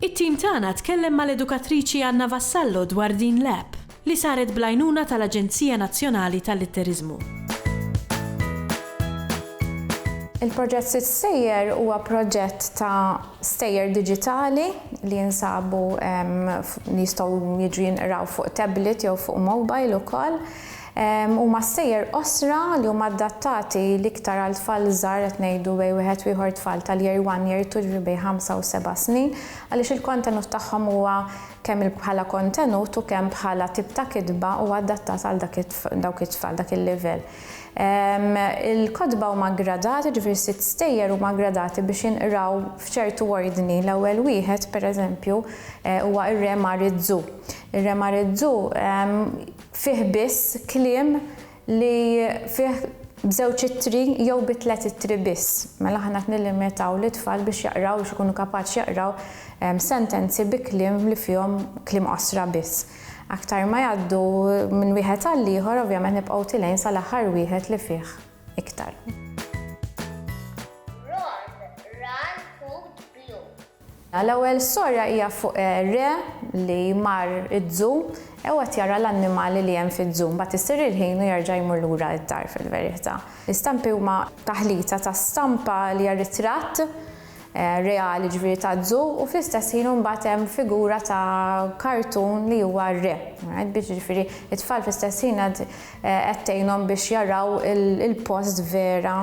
It-tim tagħna tkellem mal-edukatriċi Anna Vassallo dwar din l-app, li saret bl-għajnuna tal-Aġenzija Nazzjonali tal-Litteriżmu. Il-proġett Sitt Stejjer huwa proġett ta' stejjer diġitali li jinsabu li jistgħu jiġu jinqraw fuq tablet jew fuq mobile ukoll. Huma s-sejjer qosra li huma adattati l-iktar għal tfal żgħar qed ngħidu bejn wieħed u ieħor tfal tal-Year One, Year Two ġifieri bejn ħamsa u seba' snin għaliex il-kontenut tagħhom huwa kemm bħala kontenut u kemm bħala tip ta' kitba huwa adattat għal dak dawk it-tfal, dak il-livell. Il-kotba huma ggradati ġifieri s-sitt stejjer huma ggradati biex jinqraw f'ċertu ordni l-ewwel wieħed pereżempju huwa r-Re Mar iż-Żu. Ir-Re Mar iż-Żu fih biss kliem li fih b'żewġ ittri jew bi tliet ittri biss. Mela aħna qed nillimitaw lit-tfal biex jaqraw, biex ikunu kapaċi jaqraw sentenzi bi kliem li fihom kliem qosra biss. Aktar ma jgħaddu minn wieħed għall-ieħor ovvjament nibqgħu tilgħin sal-aħħar wieħed li fih iktar. L-ewwel storja hija fuq re li mar iz-zoo e u qed jara l-annimali li hemm fiz-zoo. Mbagħad isir il-ħin u jerġa' jmur lura id-dar fil-verita'. L-istampi huma taħlita ta' stampa li hija ritratt reali ġifieri ta' zoo u fl-istess ħin u mbagħad hemm figura ta' kartun li huwa re. Alright biex ġifieri t-tfal fl-istess ħin qed tgħinhom biex jaraw il-post vera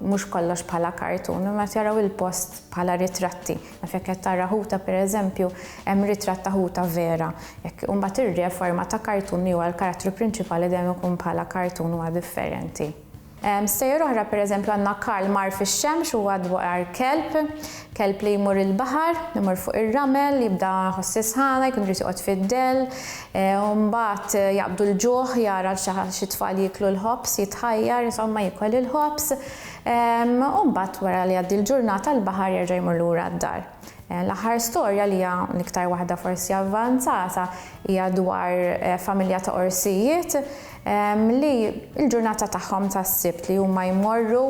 mhux kollox bħala kartun, imma qed jaraw il-post bħala ritratti. Naf jekk qed tara ħuta pereżempju, hemm ritratt ta' ħuta vera. Jekk imbagħad irrieħ forma ta' kartun li huwa l-karattru prinċipali dejjem ikun bħala kartun huwa differenti. Stejjer oħra pereżempju għandna Karl mar fix-xemx huwa dwar kelb Kelb li jmur il-baħar, imur fuq ir-ramel, jibda jħoss is-sħana, jkun irid joqgħod fid-dell, u mbagħad jaqbdu l-ġuħ, jara l xi xi tfal jieklu l-ħobż, jitħajjar, insomma jiekol il-ħobż, u mbagħad wara li jgħaddi l-ġurnata l-baħar jerġa' jmur lura d-dar. L-aħħar storja li hija l-iktar waħda forsi avvanzata hija dwar familja ta' orsijiet li l-ġurnata tagħhom tas-Sibt li huma jmorru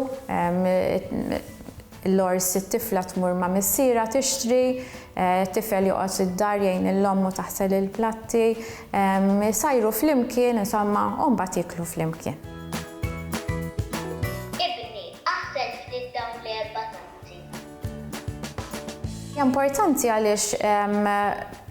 L-għors it-tifla tmur ma' missierha tixtri, t-tifel joqgħod id-dar jgħin lil ommu taħsel il-platti, isajru flimkien, insomma, u mbagħad jieklu flimkien. Ibni, aħsel ftit dawn l-erba' tazzi. Hija importanti għaliex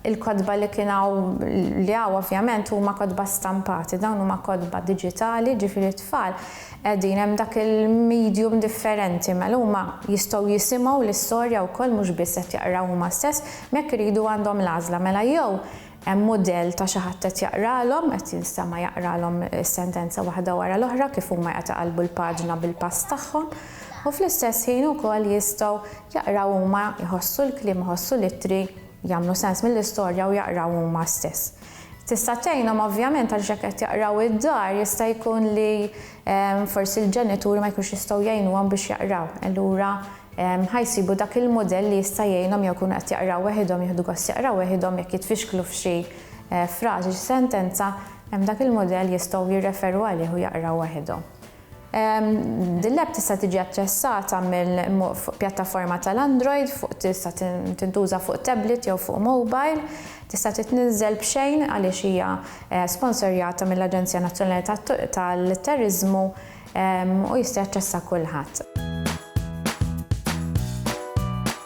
il-kotba li kien hawn, li hawn ovvjament, huma kotba stampati, dawn huma kotba diġitali, jiġifieri t-tfal, Qegħdin hemm dak il-medium differenti, mela huma jistgħu jisimgħu l-istorja wkoll mhux biss qed jaqraw huma stess, imma jekk iridu għandhom l-għażla, mela jew hemm mudell ta' xi ħadd qed jaqralhom, qed jinstema' jaqralhom is-sentenza waħda wara l-oħra kif huma qed iqallbu l-paġna bil-pass tagħhom, u fl-istess ħin ukoll jistgħu jaqraw huma, iħossu l-kliem, iħossu l-ittri, jagħmlu sens mill-istorja u jaqraw huma stess. Tista' tgħinhom ovvjament għaliex jekk qed jaqraw id-dar jista' jkun li forsi l-ġenituri ma jkunux jistgħu jgħinuhom biex jaqraw. Allura ħa jsibu dak il-mudell li jista' jgħinhom jew ikunu qed jaqraw weħidhom, jieħdu gost jaqraw weħidhom, jekk jitfixklu f'xi frażi, xi sentenza, hemm dak il-mudell jistgħu jirreferu għalih u jaqraw weħidhom. Din l-app tista' tiġi aċċessata fuq pjattaforma tal-Android, tista' tintuża fuq tablet jew fuq mobile, tista' titniżżel b'xejn għaliex hija sponsorjata mill-Aġenzija Nazzjonali tal-Turiżmu u jista' jaċċessha kulħadd.